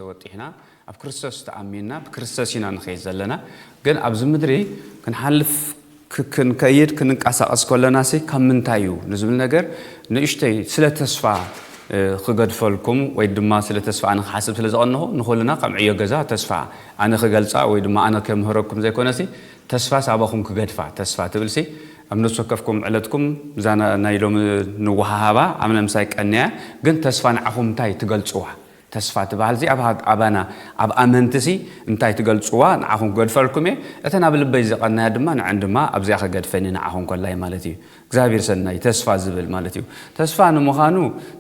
ተወጢሕና ኣብ ክርስቶስ ተኣሚንና ብክርስቶስ ኢና ንኸይድ ዘለና ግን ኣብዚ ምድሪ ክንሓልፍ ክንከይድ ክንንቀሳቐስ ከለናሲ ካብ ምንታይ እዩ ንዝብል ነገር ንእሽተይ ስለ ተስፋ ክገድፈልኩም ወይ ድማ ስለ ተስፋ ኣነ ክሓስብ ስለ ዝቐንኹ ንኹልና ከም ዕዮ ገዛ ተስፋ ኣነ ክገልጻ ወይ ድማ ኣነ ከምህረኩም ዘይኮነሲ ተስፋ ሳባኹም ክገድፋ ተስፋ ትብልሲ ኣብ ነፍሲ ወከፍኩም ዕለትኩም እዛ ናይ ሎሚ ንወሃሃባ ኣምነ ምሳይ ቀንያ ግን ተስፋ ንዓኹም እንታይ ትገልጽዋ ተስፋ ትበሃል'ዚ ኣብ ኣባና ኣብ ኣመንቲ'ሲ እንታይ ትገልጽዋ ንዓኹም ክገድፈልኩም'የ፣ እተን ኣብ ልበይ ዘቐናያ ድማ ንዐን ድማ ኣብዚኣ ክገድፈን'የ ንዓኹም ኮላይ ማለት እዩ። እግዚኣብሔር ሰናይ ተስፋ ዝብል ማለት እዩ። ተስፋ ንምዃኑ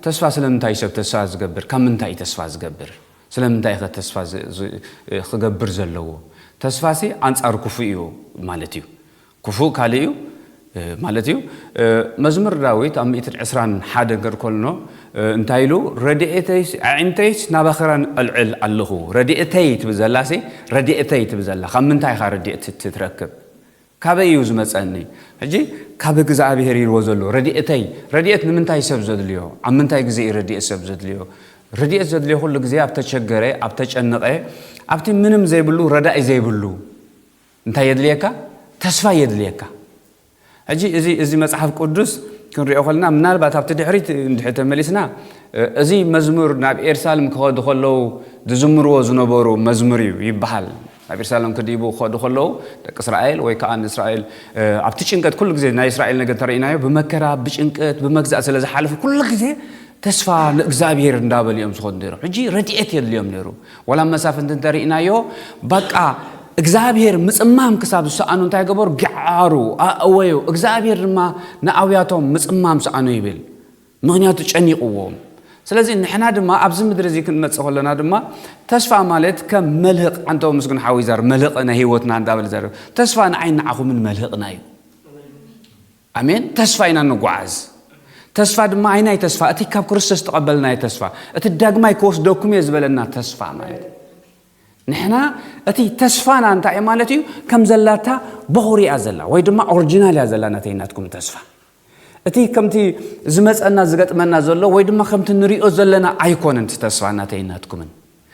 ተስፋ ስለምንታይ እዩ ሰብ ተስፋ ዝገብር? ካብ ምንታይ እዩ ተስፋ ዝገብር? ስለምንታይ'ኸ ተስፋ ክገብር ዘለዎ? ተስፋ'ሲ ኣንጻር ክፉእ'ዩ ማለት እዩ። ክፉእ ካልእ እዩ ማለት እዩ። መዝሙር ዳዊት ኣብ ሚእትን ዕስራን ሓደ ገርኮልኖ እንታይ ኢሉ ረድኤተይስ ኣዒንተይስ ናባኽራን ኣልዕል ኣለኹ ረድኤተይ ትብል ዘላሲ ረድኤተይ ትብል ዘላ ካብ ምንታይ ኢኻ ረድኤት ትረክብ ካበይ እዩ ዝመፀኒ ሕጂ ካብ እግዚኣብሄር ኢልዎ ዘሎ ረድኤተይ ረድኤት ንምንታይ ሰብ ዘድልዮ ኣብ ምንታይ ግዜ እዩ ረድኤት ሰብ ዘድልዮ ረድኤት ዘድልዮ ኩሉ ግዜ ኣብ ተቸገረ ኣብ ተጨነቐ ኣብቲ ምንም ዘይብሉ ረዳኢ ዘይብሉ እንታይ የድልየካ? ተስፋ የድልየካ። ሕጂ እዚ እዚ መጽሓፍ ቅዱስ ክንሪኦ ከለና ምናልባት ኣብቲ ድሕሪት እንድሕር ተመሊስና እዚ መዝሙር ናብ ኤርሳልም ክኸዱ ከለዉ ዝዝምርዎ ዝነበሩ መዝሙር እዩ ይበሃል። ናብ ኤርሳልም ክድይቡ ክኸዱ ከለዉ ደቂ እስራኤል ወይ ከዓ ንእስራኤል ኣብቲ ጭንቀት ኩሉ ግዜ ናይ እስራኤል ነገር እንተሪኢናዮ ብመከራ ብጭንቀት ብመግዛእ ስለ ዝሓለፉ ኩሉ ግዜ ተስፋ ንእግዝኣብሄር እንዳበሉ እዮም ዝኮኑ ነይሮም ሕጂ ረድኤት የድልዮም ነይሩ ዋላ መሳፍንቲ እንተሪእናዮ ባቃ እግዚኣብሄር ምጽማም ክሳብ ዝሰኣኑ እንታይ ገበሩ ግዓሩ ኣእወዩ እግዚኣብሄር ድማ ንኣውያቶም ምጽማም ሰኣኑ ይብል ምክንያቱ ጨኒቕዎም ስለዚ ንሕና ድማ ኣብዚ ምድሪ እዚ ክንመጽእ ከለና ድማ ተስፋ ማለት ከም መልህቕ ዓንተው ምስግን ሓዊ ዛር መልህቕ ናይ ህይወትና እንዳበለ ዘር ተስፋ ንዓይን ንዓኹምን መልህቕና እዩ ኣሜን ተስፋ ኢና እንጓዓዝ ተስፋ ድማ ኣይናይ ተስፋ እቲ ካብ ክርስቶስ ዝተቐበልናዮ ተስፋ እቲ ዳግማይ ክወስደኩም እየ ዝበለና ተስፋ ማለት ንሕና እቲ ተስፋና እንታይ እዩ ማለት እዩ ከም ዘላታ በኹሪ እያ ዘላ ወይ ድማ ኦሪጂናል እያ ዘላ ነተይ ናትኩም ተስፋ እቲ ከምቲ ዝመፀና ዝገጥመና ዘሎ ወይ ድማ ከምቲ ንሪኦ ዘለና ኣይኮነን እቲ ተስፋ እናተይናትኩምን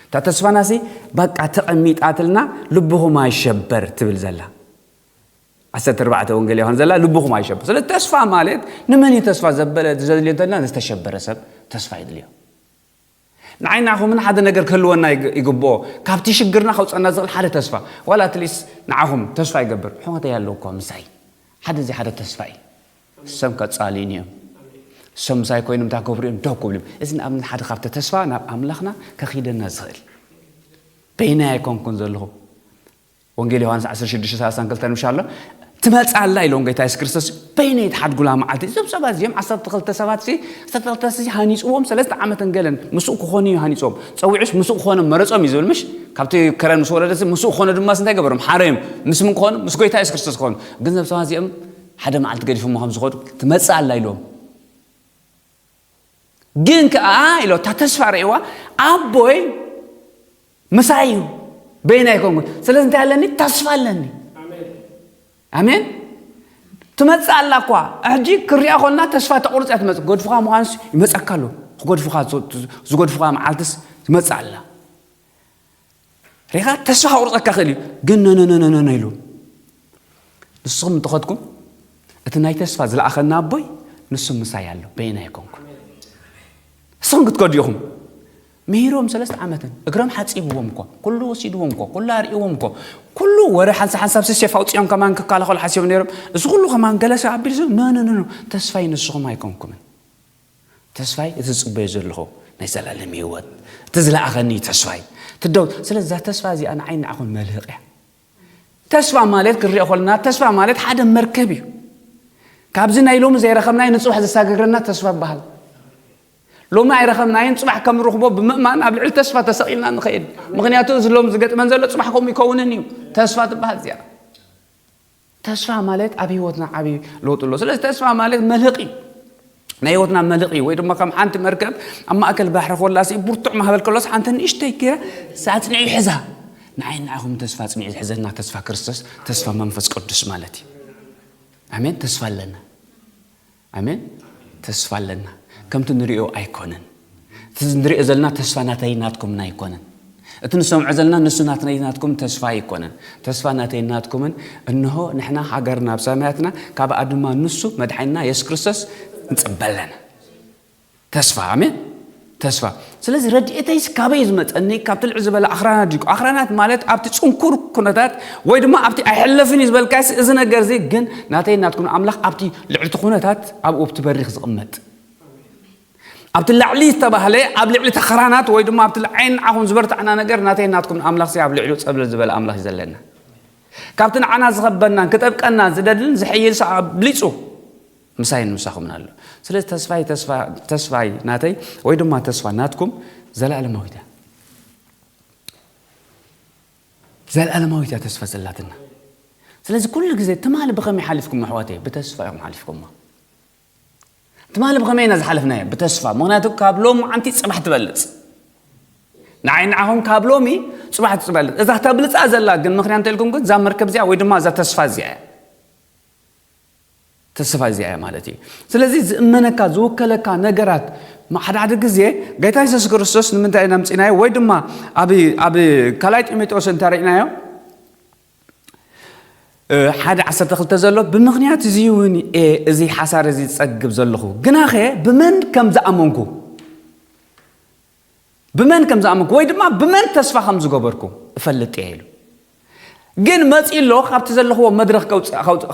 እታ ተስፋናሲ በቃ ተቐሚጣትልና ልብኹም ኣይሸበር ትብል ዘላ ዓሰርተ ኣርባዕተ ወንጌል ዮሃንስ ዘላ ልብኹም ኣይሸበር ስለ ተስፋ ማለት ንመን እዩ ተስፋ ዘበለ ዘድልዮ እንተልና ንዝተሸበረ ሰብ ተስፋ የድልዮ ንዓይ ንዓኹምን ሓደ ነገር ክህልወና ይግብኦ ካብቲ ሽግርና ከውፀና ዝኽእል ሓደ ተስፋ ዋላ ኣትሊስ ንዓኹም ተስፋ ይገብር ሕወተይ ኣለዉ እኳ ምሳይ ሓደ እዚ ሓደ ተስፋ እዩ ሰም ከፃልዩን እዮም ሰም ምሳይ ኮይኖም እታ ክብሩ እዮም ደው ክብሉ እዮም እዚ ንኣብነት ሓደ ካብቲ ተስፋ ናብ ኣምላኽና ከኺደና ዝኽእል በይናይ ኣይኮንኩን ዘለኹ ወንጌል ዮሃንስ ዓሰርተ ሽዱሽተ ሰላሳን ክልተን ምሻ ኣሎ ትመጽእ ኣላ ኢሎም ጎይታ የሱስ ክርስቶስ በይነይ ትሓድጉላ መዓልቲ እዞም ሰባት እዚኦም ዓሰርተ ክልተ ሰባት ሲ ዓሰርተ ክልተ ሰባት ሲ ሃኒጽዎም ሰለስተ ዓመትን ገለን ምስኡ ክኾኑ እዩ ሃኒጾም ጸዊዑስ ምስኡ ክኾኖም መረጾም እዩ ዝብል ምሽ ካብቲ ከረን ምስ ወረደሲ ምስኡ ክኾኑ ድማ ስንታይ ገበሮም ሓረዮም ምስ ምን ክኾኑ ምስ ጎይታ የሱስ ክርስቶስ ክኾኑ ግን እዞም ሰባት እዚኦም ሓደ መዓልቲ ገዲፎሞ ከም ዝኸዱ ትመጽእ ኣላ ኢሎም ግን ከኣ ኢሎ እታ ተስፋ ርእዋ ኣቦይ ምሳይ እዩ በይና ኣይኮንኩን ስለዚ እንታይ ኣለኒ ተስፋ ኣለኒ ኣሜን ትመጽእ ኣላ እኳ ሕጂ ክሪኣ ኮልና ተስፋ ተቑርፅ እያ ትመፅእ ገድፍኻ ምዃንስ ይመፀካ ኣሎ ክጎድፍኻ ዝጎድፍኻ መዓልትስ ትመጽእ ኣላ ሪኻ ተስፋ ከቑርፀካ ክእል እዩ ግን ነነነነነ ኢሉ ንስኹም እንተኸድኩም እቲ ናይ ተስፋ ዝለኣኸና ኣቦይ ንሱ ምሳይ ኣሎ በይና ኣይኮንኩ ንስኹም ክትከዱ ኢኹም ምሂሮም ሰለስተ ዓመትን እግሮም ሓፂብዎም እኮ ኩሉ ወሲድዎም እኮ ኩሉ ኣርእዎም እኮ ኩሉ ወረ ሓንሳ ሓንሳብ ስሴፍ ኣውፅኦም ከማን ክከላኸሉ ሓሲቦም ነይሮም እዚ ኩሉ ከማን ገለሰ ኣቢልዞም ነነነነ ተስፋይ ንስኹም ኣይኮንኩምን ተስፋይ እቲ ዝጽበዮ ዘለኹ ናይ ዘላለም ህይወት እቲ ዝለኣኸኒ እዩ ተስፋይ ትደው ስለዚ እዛ ተስፋ እዚኣ ንዓይ ንዓኹም መልህቕ እያ ተስፋ ማለት ክንሪኦ ከለና ተስፋ ማለት ሓደ መርከብ እዩ ካብዚ ናይ ሎሚ ዘይረኸብናይ ንፅባሕ ዘሳገግረና ተስፋ ይበሃል ሎሚ ኣይረኸብናይን ፅባሕ ከም ርኽቦ ብምእማን ኣብ ልዕሊ ተስፋ ተሰቂልና ንኽእል ምክንያቱ እዚ ሎም ዝገጥመን ዘሎ ፅባሕ ከምኡ ይከውንን እዩ ተስፋ ትበሃል እዚኣ ተስፋ ማለት ኣብ ህይወትና ዓብዪ ለውጢ ኣሎ ስለዚ ተስፋ ማለት መልህቕ እዩ ናይ ህይወትና መልቕ እዩ ወይ ድማ ከም ሓንቲ መርከብ ኣብ ማእከል ባሕሪ ኮላሲ ብርቱዕ ማህበል ከሎስ ሓንቲ ንእሽተይ ገይራ ሳፅንዒ ይሕዛ ንዓይ ንዓኹም ተስፋ ፅኒዒ ዝሕዘና ተስፋ ክርስቶስ ተስፋ መንፈስ ቅዱስ ማለት እዩ ኣሜን ተስፋ ኣለና ኣሜን ተስፋ ኣለና ከምቲ ንሪኦ ኣይኮነን እቲ ንሪኦ ዘለና ተስፋ ናተይን ናትኩምን ኣይኮነን እቲ ንሰምዖ ዘለና ንሱ ናትነይን ናትኩምን ተስፋ ኣይኮነን ተስፋ ናተይን ናትኩምን እንሆ ንሕና ሃገርና ኣብ ሰማያትና ካብኣ ድማ ንሱ መድሓኒና የሱስ ክርስቶስ ንጽበ ኣለና ተስፋ ኣሜን ተስፋ ስለዚ ረድኤተይስ ካበይ እዩ ዝመፀኒ ካብቲ ልዕ ዝበለ ኣኽራናት ድዩ ኣኽራናት ማለት ኣብቲ ፅንኩር ኩነታት ወይ ድማ ኣብቲ ኣይሕለፍን እዩ ዝበልካስ እዚ ነገር እዚ ግን ናተይ ናትኩም ኣምላኽ ኣብቲ ልዕልቲ ኩነታት ኣብኡ ኣብቲ በሪኽ ዝቕመጥ ኣብቲ ላዕሊ ዝተባህለ ኣብ ልዕሊ ተኸራናት ወይ ድማ ኣብቲ ዓይን ንዓኹም ዝበርታዕና ነገር ናተይ ናትኩም ኣምላኽ ሲ ኣብ ልዕሉ ፀብለል ዝበለ ኣምላኽ እዩ ዘለና ካብቲ ንዓና ዝኸበናን ክጠብቀና ዝደልን ዝሕይል ሰ ኣብሊፁ ምሳይን ምሳኹምን ኣሎ። ስለዚ ተስፋይ ተስፋ ተስፋይ ናተይ ወይ ድማ ተስፋ ናትኩም ዘለኣለማዊት እያ። ዘለኣለማዊት እያ ተስፋ ዘላትና። ስለዚ ኩሉ ግዜ ትማሊ ብኸመይ ሓሊፍኩም ኣሕዋተይ ብተስፋ እዮም ሓሊፍኩማ። ትማሊ ብኸመይ ኢና ዝሓለፍናዮ ብተስፋ ምክንያቱ ካብ ሎም ዓንቲ ፅባሕ ትበልፅ ንዓይ ንዓኹም ካብ ሎሚ ፅባሕ ትበልፅ እዛ ተብልፃ ዘላ ግን ምክንያት እንተልኩም ግን እዛ መርከብ እዚኣ ወይ ድማ እዛ ተስፋ እዚኣ እያ ተሰፋይ እዚኣ እያ ማለት እዩ ስለዚ ዝእመነካ ዝውከለካ ነገራት ሓደ ሓደ ግዜ ጌታ የሱስ ክርስቶስ ንምንታይ ኢና ምፅናዮ ወይ ድማ ኣብ ካልኣይ ጢሞቴዎስ እንተሪእናዮ ሓደ ዓሰርተ ክልተ ዘሎ ብምክንያት እዚ እውን እየ እዚ ሓሳር እዚ ዝፀግብ ዘለኹ ግናኸ ብመን ከም ዝኣመንኩ ብመን ከም ዝኣመንኩ ወይ ድማ ብመን ተስፋ ከም ዝገበርኩ እፈልጥ እየ ኢሉ ግን መፂ ኣሎ ካብቲ ዘለኽዎ መድረኽ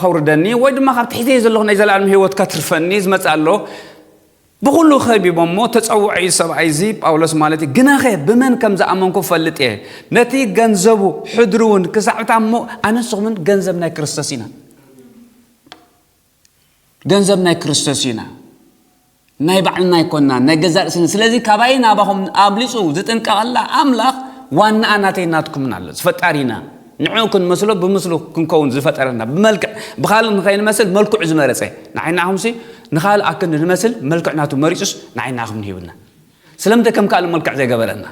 ከውርደኒ ወይ ድማ ካብቲ ሒዘዮ ዘለኹ ናይ ዘለኣለም ህይወት ከትርፈኒ ዝመፅእ ኣሎ ብኩሉ ከቢቦሞ ተፀውዖ እዩ ሰብኣይ እዚ ጳውሎስ ማለት እዩ ግናኸ ብመን ከም ዝኣመንኩ እፈልጥ እየ ነቲ ገንዘቡ ሕድሪ እውን ክሳዕብታ እሞ ኣነስኹምን ገንዘብ ናይ ክርስቶስ ኢና ገንዘብ ናይ ክርስቶስ ኢና ናይ ባዕልና ኣይኮናን ናይ ገዛ ርእስን ስለዚ ካባይ ናባኹም ኣብሊፁ ዝጥንቀቐላ ኣምላኽ ዋናኣ ናተይ ናትኩምን ኣሎ ዝፈጣሪና ንዕኡ ክንመስሎ ብምስሉ ክንከውን ዝፈጠረና ብመልክዕ ብካልእ ንኸይንመስል መልክዑ ዝመረፀ ንዓይ ንዓኹምሲ ንኻልእ ኣክንዲ ንመስል መልክዕ ናቱ መሪፁስ ንዓይ ንዓኹም ንሂብና ስለምንታይ ከም ካልእ መልክዕ ዘይገበረና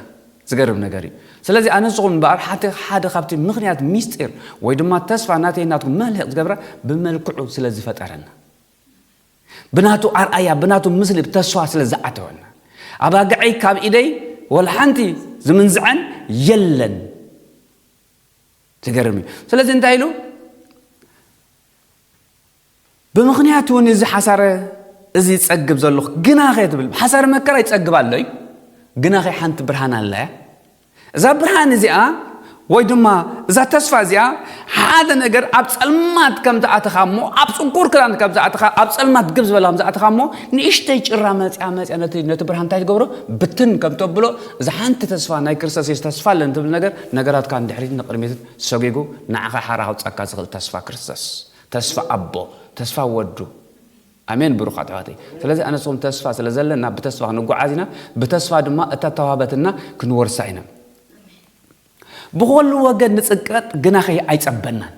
ዝገርም ነገር እዩ ስለዚ ኣነ ንስኹም እምበኣር ሓቲ ሓደ ካብቲ ምኽንያት ሚስጢር ወይ ድማ ተስፋ ናተይ ናትኩም መልህቕ ዝገብረ ብመልክዑ ስለ ዝፈጠረና ብናቱ ኣርኣያ ብናቱ ምስሊ ተስፋ ስለ ዝዓተወና ኣባግዐይ ካብ ኢደይ ወላ ሓንቲ ዝምንዝዐን የለን ዝገርም እዩ ስለዚ እንታይ ኢሉ ብምኽንያት እውን እዚ ሓሳረ እዚ ይጸግብ ዘሎኹ ግናኸ ትብል ሓሳረ መከራ ይጸግብ ኣሎ እዩ ግናኸ ሓንቲ ብርሃን ኣላ እያ እዛ ብርሃን እዚኣ ወይ ድማ እዛ ተስፋ እዚኣ ሓደ ነገር ኣብ ጸልማት ከም ዝኣተኻ እሞ ኣብ ጽንኩር ክዳን ከም ዝኣተኻ ኣብ ጸልማት ግብ ዝበለ ከም ዝኣተኻ እሞ ንእሽተይ ጭራ መጽያ መጽያ ነቲ ብርሃን እንታይ ትገብሮ ብትን ከም ተብሎ እዛ ሓንቲ ተስፋ ናይ ክርስቶስ የሱ ተስፋ ኣለን ትብል ነገር ነገራትካ ንድሕሪትን ንቅድሚትን ሰጒጉ ንዓኻ ሓራ ከውጻካ ዝኽእል ተስፋ ክርስቶስ ተስፋ ኣቦ ተስፋ ወዱ ኣሜን ብሩኻት ኣሕዋተይ ስለዚ ኣነ ንስኹም ተስፋ ስለ ዘለና ብተስፋ ክንጓዓዝ ኢና ብተስፋ ድማ እታ ተዋህበትና ክንወርሳ ኢና ብኾሉ ወገን ንጽቀጥ ግና ኸይ ኣይጸበናን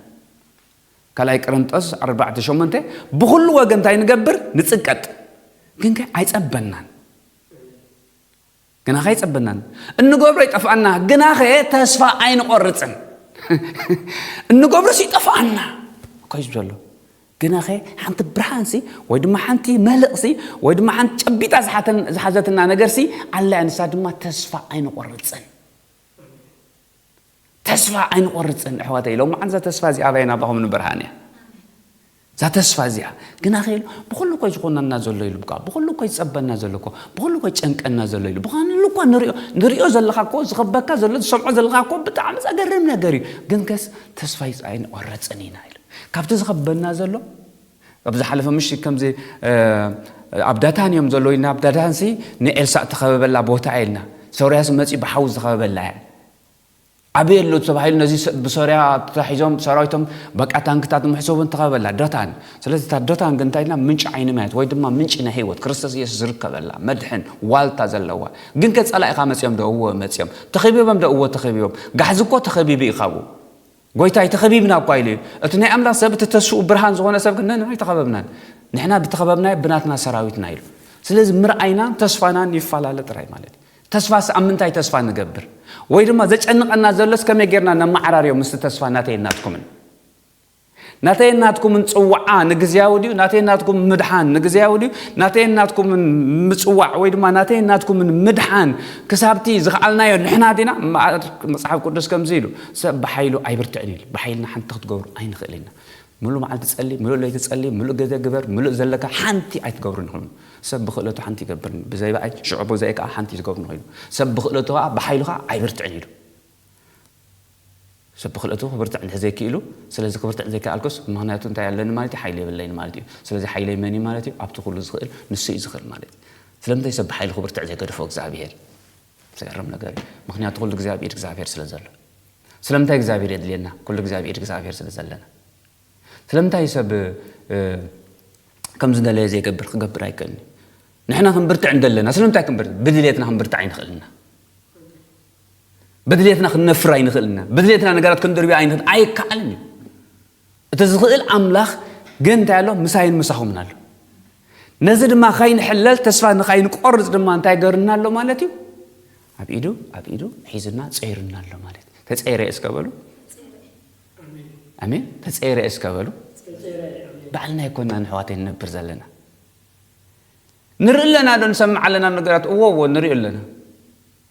ካልኣይ ቅርንጦስ ኣርባዕተ ሸሞንተ ብኹሉ ወገን እንታይ ንገብር ንጽቀጥ ግን ከ ኣይጸበናን ግናኸ ኣይጸበናን፣ እንገብሮ ይጠፍኣና፣ ግናኸ ተስፋ ኣይንቖርጽን። እንገብሮስ ይጠፍኣና እኮ'ዩ ዝብል ዘሎ፣ ግናኸ ሓንቲ ብርሃንሲ ወይ ድማ ሓንቲ መልእኽሲ ወይ ድማ ሓንቲ ጨቢጣ ዝሓዘትና ነገርሲ ኣላ፣ ንሳ ድማ ተስፋ ኣይንቖርጽን። ተስፋ ኣይንቆርጽን ኣሕዋተይ ሎምዓንቲ እዛ ተስፋ እዚኣ ኣባይ ናባኹም ንብርሃን እያ እዛ ተስፋ እዚኣ ግና ከ ኢሉ ብኩሉ እኮ ዝኾነና ዘሎ ኢሉ እኳ ብኩሉ እኮ ዝጸበና ዘሎ እኮ ብኩሉ እኮ ጨንቀና ዘሎ ኢሉ ብኳንሉ እኳ ንሪኦ ንሪኦ ዘለኻ እኮ ዝኸበካ ዘሎ ዝሰምዖ ዘለኻ እኮ ብጣዕሚ ዘገርም ነገር እዩ ግን ከስ ተስፋ ኣይንቆርጽን ኢና ኢሉ ካብቲ ዝኸበና ዘሎ ኣብ ዝሓለፈ ምሽት ከምዚ ኣብ ዳታን እዮም ዘሎ ኢና ኣብ ዳታንሲ ንኤልሳእ ተኸበበላ ቦታ ኢልና ሶርያስ መፂ ብሓዊ ዝኸበበላ እያ ኣበይ ኣሎ ተባሂሉ ነዚ ብሶርያ ተታሒዞም ሰራዊቶም በቃ ታንክታት ምሕሰቡን ተኸበላ ዶታን ስለዚ እታ ዶታን ግን እንታይ ኢልና ምንጪ ዓይኒ ማያት ወይ ድማ ምንጪ ናይ ህይወት ክርስቶስ ኢየሱስ ዝርከበላ መድሕን ዋልታ ዘለዋ ግን ከ ጸላኢኻ መጺኦም ዶ እወ መጺኦም ተኸቢቦም ዶ እወ ተኸቢቦም ጋሕዚ እኮ ተኸቢቡ እዩ ካብኡ ጐይታይ ተኸቢብና እኳ ኢሉ እዩ። እቲ ናይ ኣምላኽ ሰብ፣ እቲ ተስፋኡ ብርሃን ዝዀነ ሰብ ግን ነንሕና ኣይተኸበብናን፣ ንሕና ብተኸበብናዮ ብናትና ሰራዊትና ኢሉ። ስለዚ ምርኣይናን ተስፋናን ይፈላለ ጥራይ ማለት እዩ። ተስፋስ ኣብ ምንታይ ተስፋ ንገብር? ወይ ድማ ዘጨንቐና ዘሎስ ከመይ ጌርና ነመዓራርዮ ምስቲ ተስፋ ናተይን ናትኩምን? ናተይን ናትኩምን ጽውዓ ንግዝያዊ ድዩ? ናተይን ናትኩምን ምድሓን ንግዝያዊ ድዩ? ናተይን ናትኩምን ምጽዋዕ ወይ ድማ ናተይን ናትኩምን ምድሓን ክሳብቲ ዝኸኣልናዮ ንሕና ዲና? እምበኣር መጽሓፍ ቅዱስ ከምዚ ኢሉ ሰብ ብሓይሉ ኣይብርትዕን ኢሉ። ብሓይልና ሓንቲ ክትገብሩ ኣይንኽእልን ኢና። ምሉእ መዓልቲ ጸሊ፣ ምሉእ ለይቲ ጸሊ፣ ምሉእ ግዜ ግበር፣ ምሉእ ዘለካ ሓንቲ ኣይትገብርን ኢኹም ኢሉ። ሰብ ብኽእለቱ ሓንቲ ይገብር፣ ብዘይ ብኣይ፣ ሽዑ ብዘይ ከኣ ሓንቲ እዩ ዝገብር ኢኹም ኢሉ። ሰብ ብኽእለቱ ከኣ ብሓይሉ ከኣ ኣይብርትዕን ኢሉ። ሰብ ብክልእቱ ክብርትዕ እንድሕር ዘይኪኢሉ፣ ስለዚ ክብርትዕ ዘይከኣልኩስ ምክንያቱ እንታይ ኣለኒ ማለት እዩ? ሓይሊ የብለይን ማለት እዩ። ስለዚ ሓይለይ መን እዩ ማለት እዩ? ኣብቲ ኩሉ ዝክእል ንሱ እዩ ዝክእል ማለት እዩ። ስለምንታይ ሰብ ብሓይሉ ክብርትዕ ዘይገደፎ እግዝኣብሄር? ዝገርም ነገር እዩ። ምክንያቱ ኩሉ ግዜ ኣብ ኢድ እግዝኣብሄር ስለ ዘሎ። ስለምንታይ እግዝኣብሄር የድልየና? ኩሉ ግዜ ኣብ ኢድ እግዝኣብሄር ስለ ዘለና። ስለምንታይ እዩ ሰብ ከምዝደለየ ዘይገብር? ክገብር ኣይክእልን እዩ። ንሕና ክንብርትዕ እንደለና ስለምንታይ ክንብርትዕ? ብድልየትና ክንብርትዕ ኣይንክእልን ኢና። በድልየትና ክንነፍር ኣይንኽእልን ኢና። በድልየትና ነገራት ክንድርብያ ኣይንኽእል ኣይከኣልን እዩ። እቲ ዝኽእል ኣምላኽ ግን እንታይ ኣሎ? ምሳይን ምሳኹምን ኣሎ። ነዚ ድማ ከይንሕለል ተስፋ ንኸይንቆርፅ ድማ እንታይ ገርና ኣሎ ማለት እዩ? ኣብ ኢዱ ኣብ ኢዱ ሒዝና ፀይርና ኣሎ ማለት እዩ። ተፀይረ እስከ በሉ ኣሜን። ተፀይረ እስከ በሉ ባዕልና ይኮና ንሕዋት ንነብር ዘለና ንርኢ ኣለና ዶ ንሰምዕ ኣለና ነገራት እዎ እዎ ንርኢ ኣለና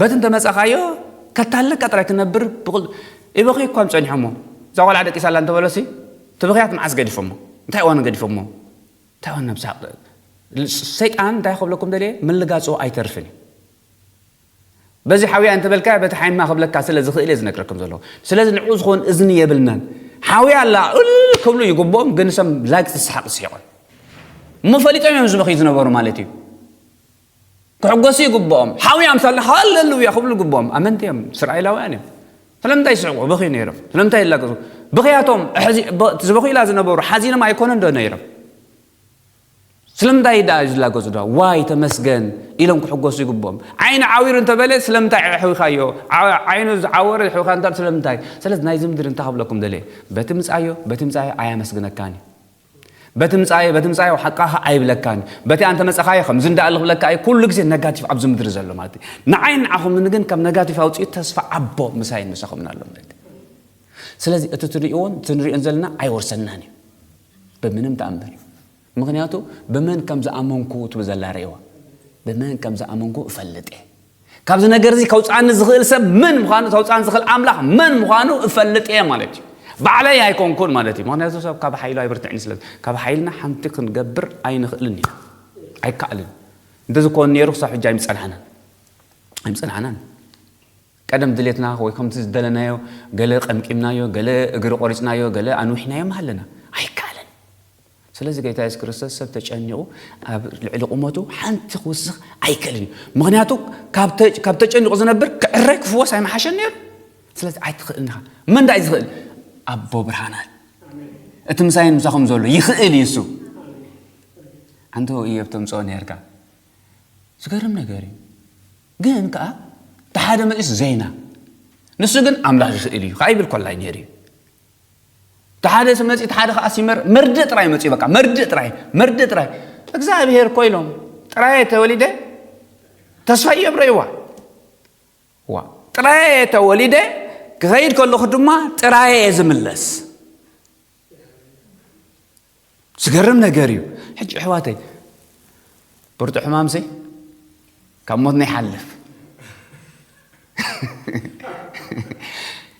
በቲ እንተ መጸኻዮ ከታልለካ ጥራይ ክነብር ብቕል ኢበኽዩ እኳም ጸኒሖሞ እዛ ቆልዓ ደቂሳ ኣላ እንተ በሎሲ እቲ ብኽያት መዓስ ገዲፎሞ እንታይ እዋኑ ገዲፎሞ እንታይ እዋን ናብ ሳቅ ሰይጣን እንታይ ክብለኩም ደልየ ምልጋጹ ኣይተርፍን እዩ በዚ ሓውያ እንተ በልካ በቲ ሓይማ ክብለካ ስለ ዝኽእል እየ ዝነግረኩም ዘለኹ ስለዚ ንዑ ዝኾን እዝኒ የብልናን ሓውያ ኣላ እል ክብሉ ይግብኦም ግን ሰም ላግጺ ሰሓቅ ዝስሒቆም እሞ ፈሊጦም እዮም ዝበኽዩ ዝነበሩ ማለት እዩ ክሕጎሱ ይግብኦም ሓውያ ኣምሳልና ሃለሉያ ክብሉ ይግብኦም ኣመንቲ እዮም እስራኤላውያን እዮም ስለምንታይ ይስሕቁ ብኺ ነይሮም ስለምንታይ ይላገጹ ብኽያቶም ዝበኺላ ዝነበሩ ሓዚኖም ኣይኮነን ዶ ነይሮም ስለምንታይ ደኣ እዩ ዝላገጹ ዶ ዋይ ተመስገን ኢሎም ክሕጎሱ ይግብኦም ዓይኒ ዓዊሩ እንተበለ ስለምንታይ ኣሕዊኻዮ ዓይኑ ዝዓወረ ኣሕዊኻ እንተ ስለምንታይ ስለዚ ናይዚ ምድሪ እንታይ ክብለኩም ደለየ በቲ ምጻዮ በቲ ምጻዮ ኣያመስግነካን እዩ በቲ ምጻኣዮ በቲ ምጻኣዮ ሓቃ ከ ኣይብለካን በቲ ኣንተ መጸኻዮ ከምዚ እንዳ ኣለ ክብለካ ኣይ ኩሉ ግዜ ነጋቲቭ ኣብዚ ምድሪ ዘሎ ማለት እዩ ንዓይ ንዓኹምን ግን ካብ ነጋቲቭ ኣውጽኡ ተስፋ ኣቦ ምሳይን ምሳኹምን ኣሎ ማለት እዩ ስለዚ እቲ ትርእዎን እቲ ንሪኦን ዘለና ኣይወርሰናን እዩ ብምንም ተኣምር ምክንያቱ ብመን ከም ዝኣመንኩ ትብል ዘላ ርእዋ ብመን ከም ዝኣመንኩ እፈልጥ እየ ካብዚ ነገር እዚ ከውጽኣኒ ዝኽእል ሰብ መን ምዃኑ ተውጽኣኒ ዝኽእል ኣምላኽ መን ምዃኑ እፈልጥ እየ ማለት እዩ ባዕለይ ኣይኮንኩን ማለት እዩ ምክንያቱ ሰብ ካብ ሓይሉ ኣይብርትዕን ስለ ካብ ሓይልና ሓንቲ ክንገብር ኣይንኽእልን ኢና ኣይከኣልን እንደዚ ኮን ነይሩ ክሳብ ሕጂ ኣይምጸናሕናን ኣይምጸናሕናን ቀደም ድሌትና ወይ ከምቲ ዝደለናዮ ገለ ቀምቂምናዮ ገለ እግሪ ቆሪጽናዮ ገለ ኣንዊሕናዮ ኣለና ኣይከኣልን ስለዚ ጎይታ የሱስ ክርስቶስ ሰብ ተጨኒቑ ኣብ ልዕሊ ቁመቱ ሓንቲ ክውስኽ ኣይክእልን እዩ ምክንያቱ ካብ ተጨኒቑ ዝነብር ክዕረ ክፍወስ ኣይመሓሸን ነይሩ ስለዚ ኣይትኽእልን ኢኻ መን ዳእ ዝኽእል ኣቦ ብርሃናት እቲ ምሳይን ምሳኹም ዘሎ ይኽእል እዩ እሱ ኣንተ እዮብ ተምፅኦ ነርካ ዝገርም ነገር እዩ ግን ከዓ እቲ ሓደ መፅስ ዘይና ንሱ ግን ኣምላኽ ይኽእል እዩ ከዓ ይብል ኮላይ ነይሩ እዩ እቲ ሓደ መፂ እቲ ሓደ ከዓ ሲመር መርድእ ጥራይ መፂ በቃ መርድእ ጥራይ መርድእ ጥራይ እግዚኣብሔር እኮ ኢሎም ጥራየ ተወሊደ ተስፋ የብረይዋ ዋ ጥራየ ተወሊደ ክኸይድ ከለኹ ድማ ጥራየ ዝምለስ ዝገርም ነገር እዩ ሕጂ ኣሕዋተይ ብርቱ ሕማም ሲ ካብ ሞትና ይሓልፍ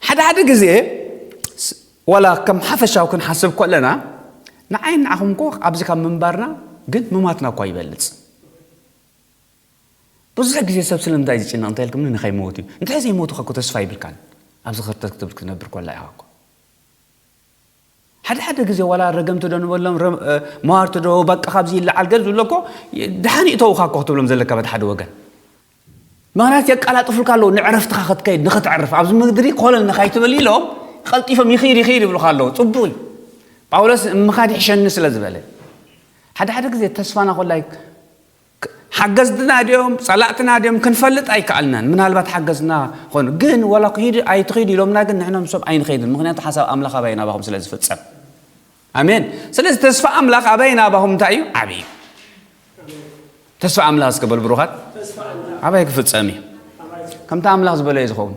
ሓደ ሓደ ግዜ ዋላ ከም ሓፈሻዊ ክንሓስብ ከለና ንዓይ ንዓኹም እኮ ኣብዚ ካብ ምንባርና ግን ምማትና እኳ ይበልፅ ብዙሕ ግዜ ሰብ ስለምንታይ ዝጭነቕ እንታይ ኢልኩም ንኸይመወት እዩ እንታይ ዘይመወቱ ከ ተስፋ ይብልካን ኣብዚ ክርተት ክትብል ክትነብር ኮላ ኢኻ እኮ ሓደ ሓደ ግዜ ዋላ ረገምቲ ዶ ንበሎም መዋርቲ ዶ በቃ ካብዚ ይለዓል ገል ዝብሎ እኮ ደሓን ይእተውኻ እኮ ክትብሎም ዘለካ በቲ ሓደ ወገን ምክንያት የቀላጥፉልካ ኣለዉ ንዕረፍትኻ ክትከይድ ንክትዕርፍ ኣብዚ ምድሪ ኮለል ንካይትብል ኢሎም ቀልጢፎም ይኽይድ ይኽይድ ይብሉኻ ኣለዉ ጽቡቕ እዩ ጳውሎስ ምኻድ ይሕሸኒ ስለ ዝበለ ሓደ ሓደ ግዜ ተስፋና ኮላይ ሓገዝትና ድዮም ጸላእትና ድዮም ክንፈልጥ ኣይከኣልናን ምናልባት ሓገዝትና ኾኑ ግን ወላ ክሂድ ኣይትኺዱ ኢሎምና ግን ንሕና ምሶም ኣይንኸይድን ምክንያቱ ሓሳብ ኣምላኽ ኣባይ ናባኹም ስለ ዝፍጸም ኣሜን ስለዚ ተስፋ ኣምላኽ ኣባይ ናባኹም እንታይ እዩ ዓብዪ እዩ ተስፋ ኣምላኽ ዝገበሉ ብሩኻት ኣባይ ክፍጸም እዩ ከምቲ ኣምላኽ ዝበለዩ ዝኸውን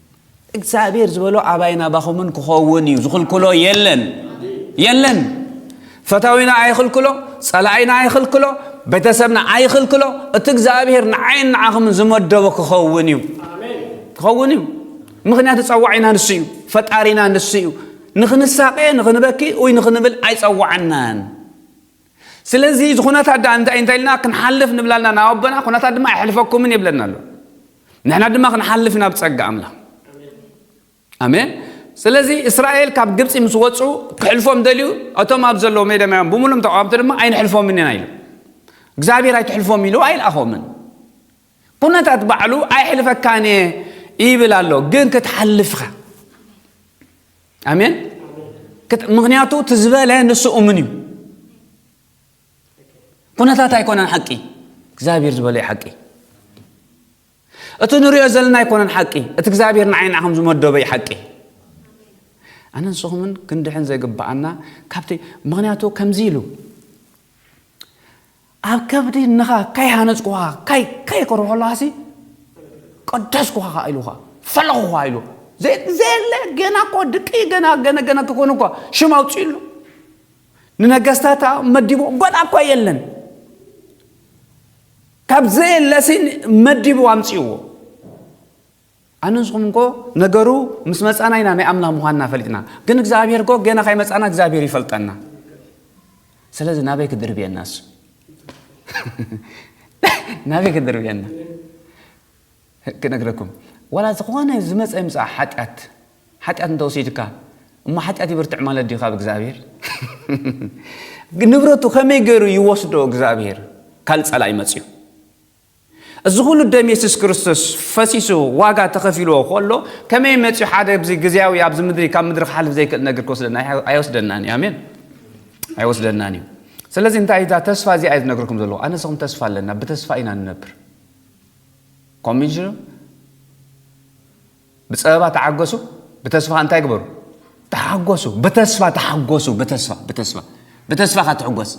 እግዚኣብሔር ዝበሎ ኣባይን ኣባኹምን ክኸውን እዩ ዝኽልክሎ የለን የለን ፈታዊና ኣይኽልክሎ ጸላኢና ኣይኽልክሎ ቤተሰብና ኣይኽልክሎ እቲ እግዚኣብሔር ንዓይን ንዓኹምን ዝመደቦ ክኸውን እዩ ክኸውን እዩ ምክንያቱ ጸዋዒና ንሱ እዩ ፈጣሪና ንሱ እዩ ንክንሳቀ ንክንበኪ ወይ ንክንብል ኣይጸዋዕናን ስለዚ እዚ ኩነታት ደኣ እንታይ እንታይ ኢልና ክንሓልፍ ንብል ኣለና ናብ ኣቦና ኩነታት ድማ ኣይሕልፈኩምን ይብለና ኣሎ ንሕና ድማ ክንሓልፍ ናብ ጸጋ ኣምላኽ ኣሜን ስለዚ እስራኤል ካብ ግብፂ ምስ ወፁ ክሕልፎም ደልዩ እቶም ኣብ ዘለዎ ሜደማዮም ብምሉም ተቃወምቲ ድማ ኣይንሕልፎምን ኢና ኢሉ እግዚኣብሔር ኣይትሕልፎም ኢሉ ኣይልኣኾምን ኩነታት ባዕሉ ኣይሕልፈካን እየ ይብል ኣሎ ግን ክትሓልፍኻ ኣሜን ምክንያቱ እቲ ዝበለ ንሱ እሙን እዩ ኩነታት ኣይኮነን ሓቂ እግዚኣብሔር ዝበለ እዩ ሓቂ እቲ ንሪኦ ዘለና ኣይኮነን ሓቂ እቲ እግዚኣብሔር ንዓይ ንዓኹም ዝመደበ እዩ ሓቂ ኣነ ንስኹምን ክንድሕን ዘይግብኣና ካብቲ ምክንያቱ ከምዚ ኢሉ ኣብ ከብዲ እንኻ ካይ ሃነጽኩኻ ካይ ካይ ክብሎ ከለኻሲ ቀደስኩኻ ኸኣ ኢሉ ኸኣ ፈለኹኻ ኢሉ ዘይ ዘየለ ገና እኮ ድቂ ገና ገነ ገነ ክኾኑ እኳ ሽም ኣውጽእሉ ንነገስታታ መዲቡ ገና እኳ የለን ካብ ዘየለሲ መዲቡ ኣምጽእዎ ኣነ ንስኹም እንኮ ነገሩ ምስ መጻና ኢና ናይ ኣምላኽ ምዃንና ፈሊጥና ግን እግዚኣብሔር እኮ ገና ካይመጻና እግዚኣብሔር ይፈልጠና ስለዚ ናበይ ክድርብየና እሱ ናበይ ክድርብየና ክነግረኩም ዋላ ዝኾነ ዝመፀ ይምፃእ ሓጢኣት ሓጢኣት እንተወሲድካ እሞ ሓጢኣት ይብርትዕ ማለት ድዩ ካብ እግዚኣብሔር ንብረቱ ከመይ ገይሩ ይወስዶ እግዚኣብሔር ካልእ ፀላእ ይመፅዩ እዚ ኩሉ ደም የሱስ ክርስቶስ ፈሲሱ ዋጋ ተኸፊልዎ ከሎ ከመይ መጺኡ ሓደ ኣብዚ ግዝያዊ ኣብዚ ምድሪ ካብ ምድሪ ክሓልፍ ዘይክእል ነገር ክወስደና ኣይወስደናን እዩ ኣሜን ኣይወስደናን እዩ ስለዚ እንታይ እዛ ተስፋ እዚኣ እዩ ዝነግርኩም ዘለዎ ኣነ ስኹም ተስፋ ኣለና ብተስፋ ኢና ንነብር ኮሚሽኑ ብፀበባ ተዓገሱ ብተስፋ እንታይ ግበሩ ተሓጎሱ ብተስፋ ተሓጎሱ ብተስፋ ብተስፋ ብተስፋ ካትሕጎስ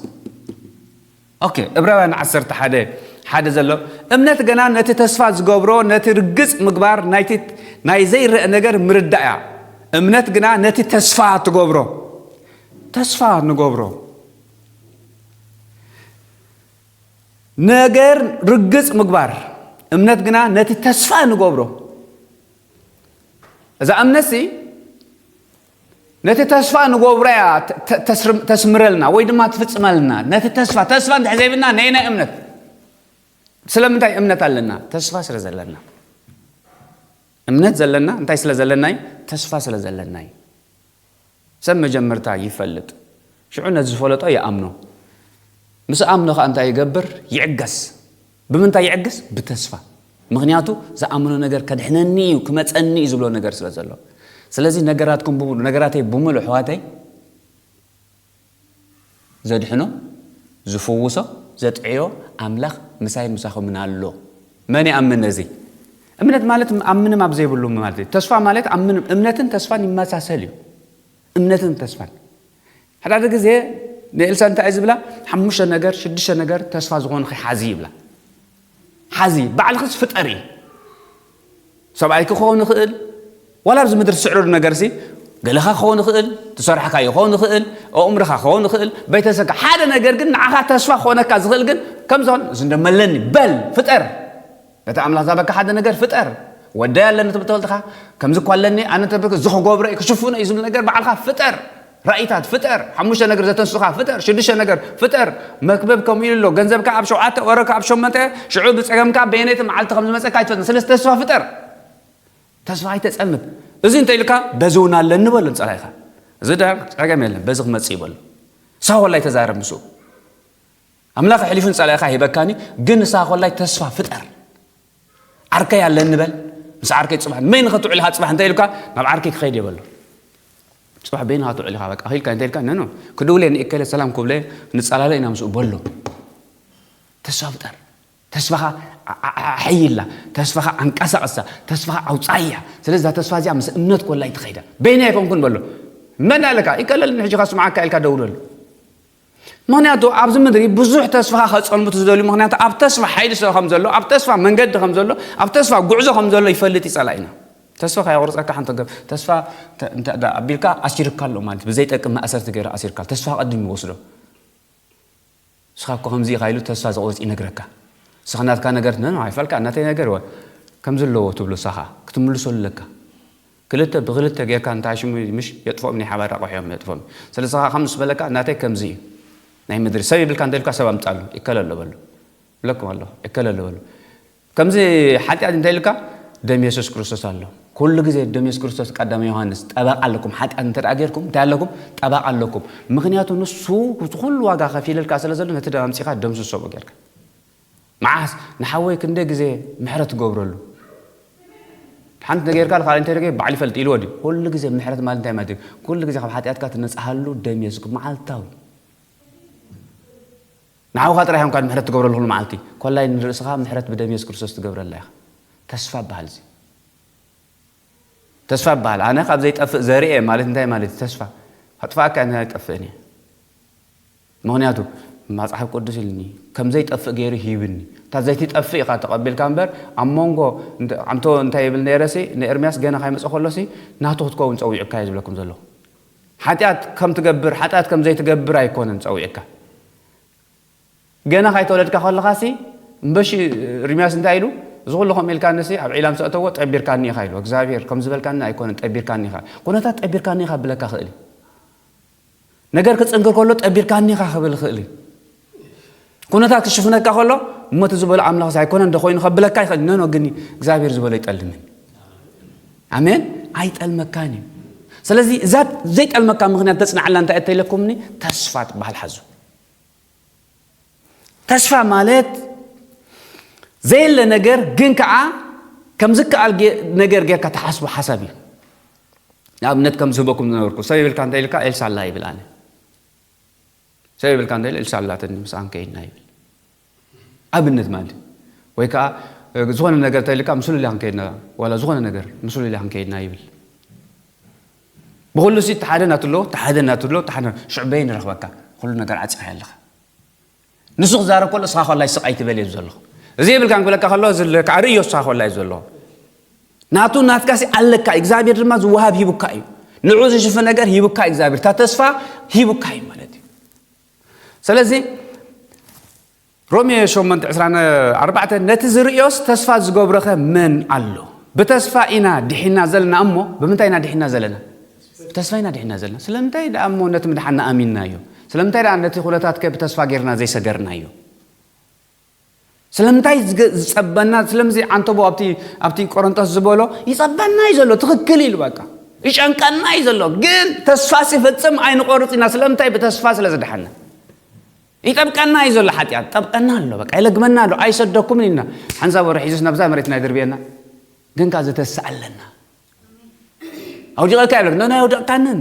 ኦኬ እብራውያን ዓሰርተ ሓደ ሓደ ዘሎ እምነት ገና ነቲ ተስፋ ዝገብሮ ነቲ ርግጽ ምግባር ናይቲ ናይ ዘይረአ ነገር ምርዳእ እያ እምነት ግና ነቲ ተስፋ ትገብሮ ተስፋ ንገብሮ ነገር ርግጽ ምግባር እምነት ግና ነቲ ተስፋ ንገብሮ እዛ እምነት ሲ ነቲ ተስፋ ንጎብራ እያ ተስምረልና ወይ ድማ ትፍጽመልና ነቲ ተስፋ ተስፋ እንድሕር ዘይብልና ነይናይ እምነት ስለምንታይ እምነት ኣለና ተስፋ ስለ ዘለና እምነት ዘለና እንታይ ስለ ዘለና እዩ ተስፋ ስለ ዘለና እዩ ሰብ መጀመርታ ይፈልጥ ሽዑ ነቲ ዝፈለጦ ይኣምኖ ምስ ኣምኖ ከዓ እንታይ ይገብር ይዕገስ ብምንታይ ይዕግስ? ብተስፋ። ምኽንያቱ ዝኣምኖ ነገር ከድሕነኒ እዩ፣ ክመጸኒ እዩ ዝብሎ ነገር ስለ ዘሎ። ስለዚ ነገራትኩም ብምሉእ፣ ነገራተይ ብምሉእ ኣሕዋተይ፣ ዘድሕኖ፣ ዝፍውሶ፣ ዘጥዕዮ ኣምላኽ ምሳይን ምሳኹምን ኣሎ። መን ይኣምን ነዚ? እምነት ማለት ኣብ ምንም ኣብ ዘይብሉ ማለት እዩ። ተስፋ ማለት ኣብ ምንም እምነትን ተስፋን ይመሳሰል እዩ። እምነትን ተስፋን ሓዳሓደ ግዜ ንኤልሳ እንታይ እዩ ዝብላ ሓሙሽተ ነገር ሽዱሽተ ነገር ተስፋ ዝኾንኺ ሓዚ ይብላ ሓዚ ባዕልኽስ ፍጠሪ ሰብኣይ ክኸውን ይኽእል ዋላ ኣብዚ ምድሪ ትስዕረሉ ነገርሲ ገለኻ ክኸውን ይኽእል ትሰርሕካዮ ክኸውን ይኽእል ኣእምሮኻ ክኸውን ይኽእል ቤተሰብካ ሓደ ነገር ግን ንዓኻ ተስፋ ክኾነካ ዝኽእል ግን ከምዝኾን ዝንደመለኒ በል ፍጠር ነቲ ኣምላኽ ዝሃበካ ሓደ ነገር ፍጠር። ወደይ ኣለኒ ትብል ተወልድካ፣ ከምዚ እኳ ኣለኒ፣ ኣነ እንተብርክ እዚ ክገብሮ እዩ፣ ክሽፍኖ እዩ ዝብል ነገር ባዕልካ ፍጠር። ራኢታት ፍጠር፣ ሓሙሽተ ነገር ዘተንስኡካ ፍጠር፣ ሽዱሽተ ነገር ፍጠር፣ መክብብ ከምኡ ኢሉ ኣሎ፣ ገንዘብካ ኣብ ሸውዓተ፣ ወረካ ኣብ ሸሞንተ፣ ሽዑ ብጸገምካ በየነይቲ መዓልቲ ከም ዝመጸካ ኣይትፈልጥን፣ ስለዚ ተስፋ ፍጠር። ተስፋ ኣይተጸምድ። እዚ እንተኢሉካ በዚ እውን ኣለኒ በሎ ንጸላኢካ። እዚ ድኣ ጸገም የለን፣ በዚ ክመጽእ እዩ በሎ። ሳወል ኣይተዛረብ ምስኡ። ኣምላክ ኣሕሊፉ ንጸላኢካ ይህበካን እዩ ግን ንስካ ኮላይ ተስፋ ፍጠር ዓርከይ ኣለኒ በል ምስ ዓርከይ ጽባሕ መይን ከትውዕል ኢካ ጽባሕ እንታይ ኢልካ ናብ ዓርከይ ክኸይድ የበሎ ጽባሕ በይን ከትውዕል ኢካ በቃ ኢልካ እንታይ ኢልካ ነኖ ክድውለ ንእከለ ሰላም ኩብለ ንጻላለ ኢና ምስኡ በሎ ተስፋ ፍጠር ተስፋኻ ኣሐይላ ተስፋኻ ኣንቀሳቕሳ ተስፋኻ ኣውፃያ ስለዚ እዛ ተስፋ እዚኣ ምስ እምነት ኮላ ይትኸይዳ በይና ኣይኮንኩን በሎ መን ኣለካ ይቀለል ንሕጂኻ ስምዓካ ኢልካ ደውለሉ ምክንያቱ ኣብዚ ምድሪ ብዙሕ ተስፋኻ ከጸልምቱ ዝደልዩ ምክንያቱ ኣብ ተስፋ ሓይሊ ስለ ከም ዘሎ ኣብ ተስፋ መንገዲ ከም ዘሎ ኣብ ተስፋ ጉዕዞ ከም ዘሎ ይፈልጥ ይጸላኢና ተስፋ ከየቁርጸካ ሓንቲ ገብ ተስፋ እንተ ኣቢልካ ኣሲርካ ኣሎ ማለት ብዘይጠቅም ማእሰርቲ ገይሩ ኣሲርካ ተስፋ ቀድም ይወስዶ ንስኻ እኮ ከምዚ ኢኻ ኢሉ ተስፋ ዘቁርጽ ይነግረካ ንስኻ ናትካ ነገር ነ ኣይፈልካ እናተይ ነገር ወ ከምዚ ኣለዎ ትብሎ ሳኻ ክትምልሰሉ ኣለካ ክልተ ብክልተ ገርካ እንተ ኣሽሙ ምሽ የጥፍኦም ናይ ሓባር ኣቁሑ እዮም ነጥፍኦም ስለዚ ከኣ ከም ምስ በለካ ናተይ ከምዚ እዩ ናይ ምድሪ ሰብ ይብልካ እንተ ኢሉካ ሰብ ኣምጻሉ ይከለ ኣሎ በሉ እብለኩም ኣለኩ ይከለ ኣሎ በሉ ከምዚ ሓጢኣት እንተ ኢሉካ ደም የሱስ ክርስቶስ ኣሎ ኩሉ ግዜ ደም የሱስ ክርስቶስ ቀዳማይ ዮሃንስ ጠበቃ ኣለኩም ሓጢኣት እንተ ደኣ ገርኩም እንታይ ኣለኩም ጠበቃ ኣለኩም ምክንያቱ ንሱ ዝኩሉ ዋጋ ከፊልልካ ስለ ዘሎ ነቲ ደም ኣምጺካ ደምስሶ ገርካ መዓስ ንሓወይ ክንደይ ግዜ ምሕረት ትገብረሉ ሓንቲ ነገር ጌርካ ንካልእ እንታይ ደገ ባዕሉ ይፈልጥ ኢልዎ ድዩ ኩሉ ግዜ ምሕረት ማለት እንታይ ማለት እዩ ኩሉ ግዜ ካብ ሓጢኣትካ ትነጽሃሉ ደም የሱስ መዓልታዊ ንሓውካ ጥራይ ኢኻ ምሕረት ትገብረሉ ኩሉ መዓልቲ ኮላይ ንርእስኻ ምሕረት ብደም የሱስ ክርስቶስ ትገብረላ ኢኻ ተስፋ በሃል እዚ ተስፋ በሃል ኣነ ካብ ዘይጠፍእ ዘርኤ ማለት እንታይ ማለት ተስፋ ኣጥፋእካ እያ ኣይጠፍእን እየ ምኽንያቱ ማጽሓፍ ቅዱስ ኢልኒ ከም ዘይጠፍእ ገይሩ ሂብኒ እታ ዘይትጠፍእ ኢኻ ተቐቢልካ እምበር ኣብ ሞንጎ ኣንቶ እንታይ ይብል ነይረሲ ንኤርምያስ ገና ካይመጸ ከሎሲ ናቱ ክትከውን ጸዊዑካ እየ ዝብለኩም ዘለኹ ሓጢኣት ከም ትገብር ሓጢኣት ከም ዘይትገብር ኣይኮነን ጸዊዕካ ገና ካይተወለድካ ከለኻሲ እምበሺ ርምያስ እንታይ ኢሉ እዚ ኩሉ ከምኡ ኢልካኒሲ ኣብ ዒላም ሰእተዎ ጠቢርካኒ ኢኻ ኢሉ እግዚኣብሄር ከም ዝበልካኒ ኣይኮነን ጠቢርካኒ ኢኻ ኩነታት ጠቢርካኒ ኢኻ ብለካ ክእል እዩ ነገር ክጽንክር ከሎ ጠቢርካ እኒኻ ክብል ይኽእል እዩ። ኩነታት ክሽፍነካ ከሎ እሞ እቲ ዝበሎ ኣምላኽ ኣይኮነን ዶ ኮይኑ ከብለካ ይኽእል ነኖ ግን እግዚኣብሔር ዝበሎ ይጠልምን ኣሜን ኣይጠልመካን እዩ ስለዚ እዛ ዘይጠልመካ ምክንያት ተፅናዓላ እንታይ እተኢለኩምኒ ተስፋ ትበሃል ሓዙ ተስፋ ማለት ዘየለ ነገር ግን ከዓ ከም ዝከኣል ነገር ጌርካ ትሓስቦ ሓሳብ እዩ ንኣብነት ከም ዝህበኩም ዝነበርኩ ሰብ ይብልካ እንታይ ኢልካ ኤልሳ ኣላ ይብል ኣነ ሰብ ይብልካ እንታይ ኢል ኤልሳ ኣላትኒ ምስኣን ከይድና ይብል ኣብነት ማለት እዩ ወይ ከዓ ዝኾነ ነገር እንታይ ኢልካ ምስ ሉልያን ከይድና ዋላ ዝኾነ ነገር ምስ ሉልያን ከይድና ይብል ብኹሉ'ሲ እቲ ሓደ ናቱ ኣሎ፣ እቲ ሓደ ናቱ ኣሎ፣ እቲ ሓደ ናቱ፣ ሽዑ በየን ይረኽበካ? ኩሉ ነገር ዓጺኻዮ ኣለኻ። ንሱ ክዛረብ ከሎ እስኻ ኮላይ ስቕ ኣይትበል እየ ዘለኹ። እዚ የብልካን ክብለካ ከሎ እዚ ኣለካ፣ ኣርእዮ እስኻ ኮላይ ዘለኹ። ናቱ ናትካ'ሲ ኣለካ፣ እግዚኣብሔር ድማ ዝወሃብ ሂቡካ እዩ። ንዑ ዝሽፍን ነገር ሂቡካ እዩ እግዚኣብሔር፣ እታ ተስፋ ሂቡካ እዩ ማለት እዩ። ስለዚ ሮሜ ሸሞንተ ዕስራን ኣርባዕተን ነቲ ዝርእዮስ ተስፋ ዝገብሮኸ መን ኣሎ? ብተስፋ ኢና ዲሒና ዘለና እሞ ብምንታይ ኢና ዲሒና ዘለና? ብተስፋ ኢና ዲሒና ዘለና። ስለምንታይ ደኣ እሞ ነቲ ምድሓና ኣሚንናዮ? ስለምንታይ ደኣ ነቲ ኩነታትከ ብተስፋ ጌርና ዘይሰገርናዮ? ስለምንታይ ዝጸበና ስለምዚ ዓንተቦ ኣብቲ ኣብቲ ቆሮንቶስ ዝበሎ ይጸበና እዩ ዘሎ ትኽክል ኢሉ በቃ ይጨንቀና እዩ ዘሎ ግን ተስፋ ሲፈጽም ኣይንቆርጽ ኢና ስለምንታይ ብተስፋ ስለ ዝደሓና ይጠብቀና እዩ ዘሎ ሓጢኣት ጠብቀና ኣሎ በቃ ይለግመና ኣሎ ኣይሰደኩምን ኢልና ሓንሳብ ወረ ሒዙስ ናብዛ መሬትና ይድርብየና ግን ከ ዝተስእ ኣለና ኣውዲቐካ ይብለክ ነና ኣይወደቕካንን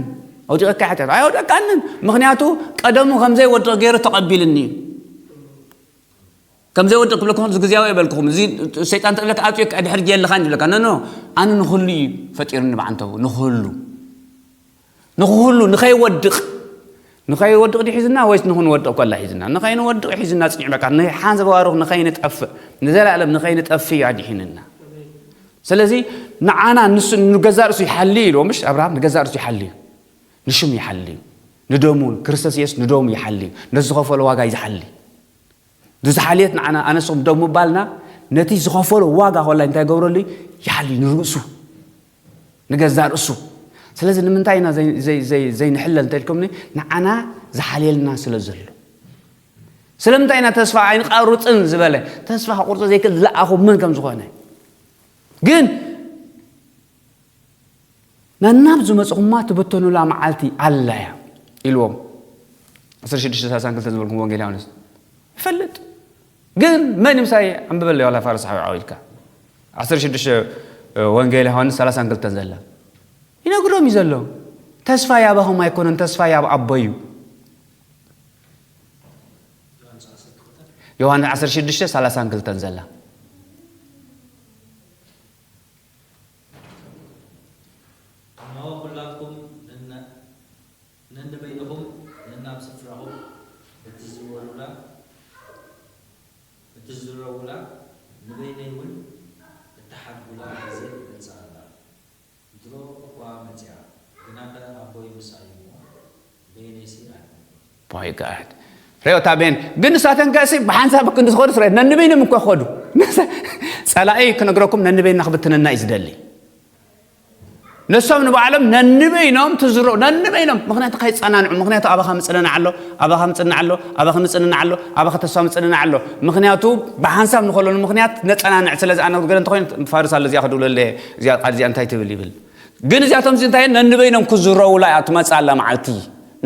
ኣውዲቐካ ሓጢኣት ኣይወደቕካንን ምክንያቱ ቀደሙ ከምዘይወድቕ ገይሩ ተቐቢልኒ እዩ ከም ዘይወድቕ ክብለኩም እዚ ግዜያዊ የበልክኹም እዚ ሰይጣን ተብለካ ኣፅዮ ድሕር ጌልኻን ይብለካ ነኖ ኣነ ንኹሉ እዩ ፈጢሩኒ ብዓንተቡ ንኹሉ ንክህሉ ንከይወድቅ ንከይወድቅ ድዩ ሒዝና ወይስ ንክንወድቅ ኮላ ሒዝና ንከይንወድቅ ሒዝና ፅኒዕ በቃ ንሓን ዘባርኽ ንከይንጠፍእ ንዘለኣለም ንከይንጠፍእ እዩ ኣድሒንና ስለዚ ንዓና ንሱ ንገዛእ ርእሱ ይሓሊ ኢሉ ምሽ ኣብርሃም ንገዛእ ርእሱ ይሓሊ እዩ ንሽሙ ይሓሊ እዩ ንደሙ ክርስቶስ የሱስ ንደሙ ይሓሊ እዩ ነዝኸፈሎ ዋጋ እዩ ዝሓሊ ንዝሓልየት ንዓና ኣነስኹም ደው ምባልና ነቲ ዝኸፈሎ ዋጋ ኮላይ እንታይ ይገብረሉ እዩ ይሓሊ ንርእሱ ንገዛ ርእሱ ስለዚ ንምንታይ ኢና ዘይንሕለል እንተልኩምኒ ንዓና ዝሓልየልና ስለ ዘሎ ስለምንታይ ኢና ተስፋ ኣይንቐርፅን ዝበለ ተስፋ ክቁርፆ ዘይክእል ዝለኣኹ መን ከም ዝኾነ ግን ነናብ ዝመጽኹማ ትብተኑላ መዓልቲ ኣላ እያ ኢልዎም። ዕስራ ሽዱሽተ ሰላሳን ክልተን ዝበልኩምዎ ወንጌል ዮሃንስ ይፈልጥ ግን መን ምሳይ ኣንብበለይ ዋላ ፋርስ ሓዊዓው ኢልካ ዓሰርተ ሽዱሽተ ወንጌል ዮሃንስ ሰላሳን ክልተን ዘላ ይነግሮም እዩ ዘሎ ተስፋይ ኣባኹም ኣይኮነን ተስፋይ ኣብ ኣቦ እዩ ዮሃንስ ዓሰርተ ሽዱሽተ ሰላሳን ክልተን ዘላ እነሆ ኵላትኩም ነንበይንኹም ነናብ ስፍራኹም እትዝረዉላ፣ ንበይነይውን እትሓድጉላ ጊዜ መጺኣ ኣላ። ድሮ እኳ መጺኣ፣ ግናኸ ኣቦይ ምሳይ'ዩ'ሞ፣ በየነይሲ ኣርገቶት። ፖይ ጋድ ርዮታ ቤን ግን ንሳተን ከእሲ ብሓንሳብ ክንዲ ዝኸዱ ስረ ነንበይንም እኮ ክኸዱ ጸላኢ ክነግረኩም ነንበይና ክብትነና እዩ ዝደሊ ንሶም ንባዕሎም ነንበይኖም ትዝሮ ነንበይኖም ምክንያቱ ከይጸናንዑ ምክንያቱ ኣባኻ ምጽንናዕ ኣሎ ኣባኻ ምጽንናዕ ኣሎ ኣባኺ ምጽንናዕ ኣሎ ኣባኺ ተስፋ ምጽንናዕ ኣሎ ምክንያቱ ብሓንሳብ ንኸለሉ ምክንያት ነጸናንዕ ስለ ዝኣነግረ እንተኮይኑ ፋርስ ኣሎ እዚኣ ክድብለለ እዚኣ ቃል እዚኣ እንታይ ትብል ይብል ግን እዚኣቶምሲ እንታይ እየን ነንበይኖም ክዝረዉላ እያ ትመጽእ ኣላ መዓልቲ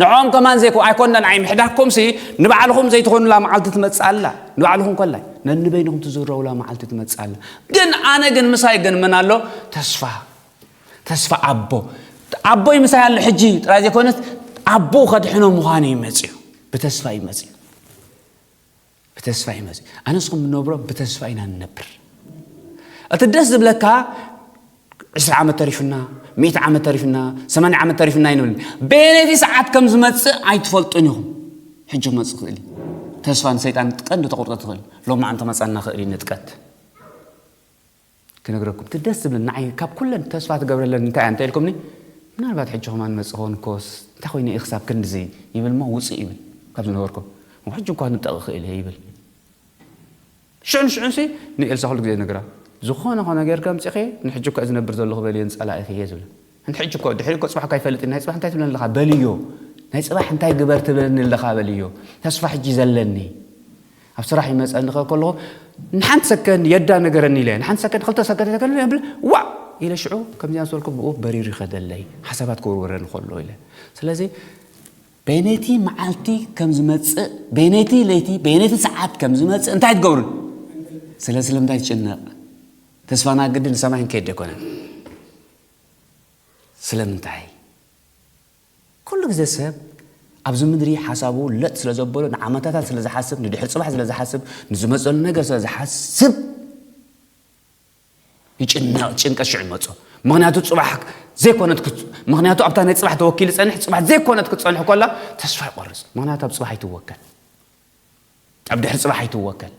ንዕኦም ከማን ዘይኮ ኣይኮናን ኣይ ምሕዳግኩምሲ ንባዕልኹም ዘይትኾኑላ መዓልቲ ትመጽእ ኣላ ንባዕልኹም ኮላይ ነንበይንኹም ትዝረዉላ መዓልቲ ትመጽእ ኣላ ግን ኣነ ግን ምሳይ ግን ምን ኣሎ ተስፋ ተስፋ ኣቦ ኣቦይ ምሳይ ኣሎ ሕጂ ጥራይ ዘይኮነት ኣቦ ከድሕኖ ምዃኑ ይመጽዩ ብተስፋ ይመጽዩ ብተስፋ ኢና እዚ ኣነስ ከም ንነብሮ ብተስፋ ኢና ንነብር እቲ ደስ ዝብለካ ዕስራ ዓመት ተሪፍና ሚእቲ ዓመት ተሪፍና ሰማንያ ዓመት ተሪፍና ይንብል ቤነቲ ሰዓት ከም ዝመፅእ ኣይትፈልጡን ኢኹም ሕጂ ክመፅእ ክእል እዩ ተስፋ ንሰይጣን ቀንዲ ተቑርጠት ትኽእል ሎሚ ኣንተ መፃና ክእል እዩ ንጥቀት ክነግረኩም እቲ ደስ ዝብለኒ ንዓይ ካብ ኩለን ተስፋ ትገብረለን እንታይ እያ እንተ ኢልኩምኒ ምናልባት ሕጂ ከማን ይመጽእ ክኸውን እኮስ እንታይ ኮይነ እየ ክሳብ ክንድዚ ይብል እሞ ውጽእ ይብል ካብ ዝነበርኩ እሞ ሕጂ እኳ ክንጠቂ ክእል እየ ይብል ሽዑ ንሽዑንሲ ንኤልሳ ኩሉ ግዜ ይነግራ ዝኾነ ኮነ ጌርኪ ኣምጺኺ ንሕጂ እኳ ዝነብር ዘለኹ በልየን ጸላኢኺ እየ ዝብላ ኣንቲ ሕጂ እኮ ድሕሪ እኮ ጽባሕ እኮ ኣይፈልጥን ናይ ጽባሕ እንታይ ትብለኒ ኣለኻ በልዮ ናይ ጽባሕ እንታይ ግበር ትብለኒ ኣለኻ በልዮ ተስፋ ሕጂ ዘለኒ ኣብ ስራሕ ይመጸኒ ከ ከለኹ ንሓንቲ ሰከንድ የዳ ነገረኒ ኢለ ንሓንቲ ሰከንድ ክልተ ሰከንድ ነገረኒ ብል ዋእ ኢለ ሽዑ ከምዚኣ ዝበልኩ ብኡ በሪሩ ይኸደለይ ሓሳባት ክውርወረኒ ከሎ ኢለ ስለዚ በይነይቲ መዓልቲ ከም ዝመጽእ በይነይቲ ለይቲ በይነይቲ ሰዓት ከም ዝመጽእ እንታይ ትገብሩ ስለ ስለምንታይ ትጭነቕ ተስፋና ግዲ ንሰማይ ንከይድ ኣይኮነን ስለምንታይ? ኩሉ ግዜ ሰብ ኣብዚ ምድሪ ሓሳቡ ለጥ ስለ ዘበሎ ንዓመታታት ስለ ዝሓስብ፣ ንድሕሪ ጽባሕ ስለ ዝሓስብ፣ ንዝመጸሉ ነገር ስለ ዝሓስብ ይጭነቕ፣ ጭንቀት ሽዑ ይመጾ። ምኽንያቱ ጽባሕ ዘይኮነት ክት- ምኽንያቱ ኣብታ ናይ ጽባሕ ተወኪሉ ይጸንሕ፣ ጽባሕ ዘይኮነት ክትጸንሕ ኮላ ተስፋ ይቆርጽ፣ ምኽንያቱ ኣብ ጽባሕ ኣይትወከል። ኣብ ድሕሪ ጽባሕ ኣይትወከል፣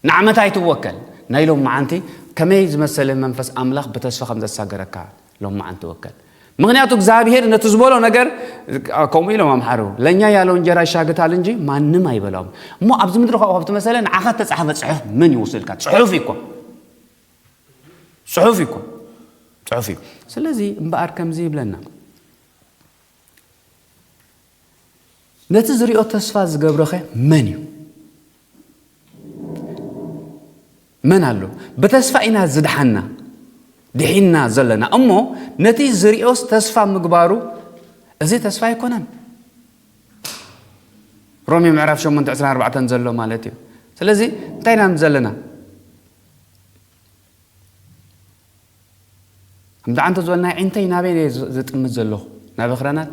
ንዓመታ ኣይትወከል፣ ናይ ሎምዓንቲ ከመይ ዝመሰለ መንፈስ ኣምላኽ ብተስፋ ከም ዘሳገረካ ሎምዓንቲ ወከል። ምክንያቱ እግዚኣብሔር ነቲ ዝበሎ ነገር ከምኡ ኢሎም ኣምሓሩ ለኛ ያለው እንጀራ ይሻግታል እንጂ ማንም ኣይበላውም እሞ ኣብዚ ምድሪ ካብኡ ካብቲ መሰለ ንዓኻ ተጻሕፈ ጽሑፍ መን ይውስልካ ጽሑፍ እኮ ጽሑፍ እኮ ጽሑፍ እዩ ስለዚ እምበኣር ከምዚ ይብለና ነቲ ዝሪኦ ተስፋ ዝገብረኸ መን እዩ? መን ኣሎ? ብተስፋ ኢና ዝድሓና ድሒና ዘለና እሞ ነቲ ዝሪኦስ ተስፋ ምግባሩ እዚ ተስፋ ኣይኮነን። ሮሜ ምዕራፍ 8 24 ዘሎ ማለት እዩ። ስለዚ እንታይ ኢና ዘለና? እንድዓ እንተዝበል ናይ ዒንተይ ናበይ እየ ዝጥምት ዘለኹ ናብ ኣኽራናት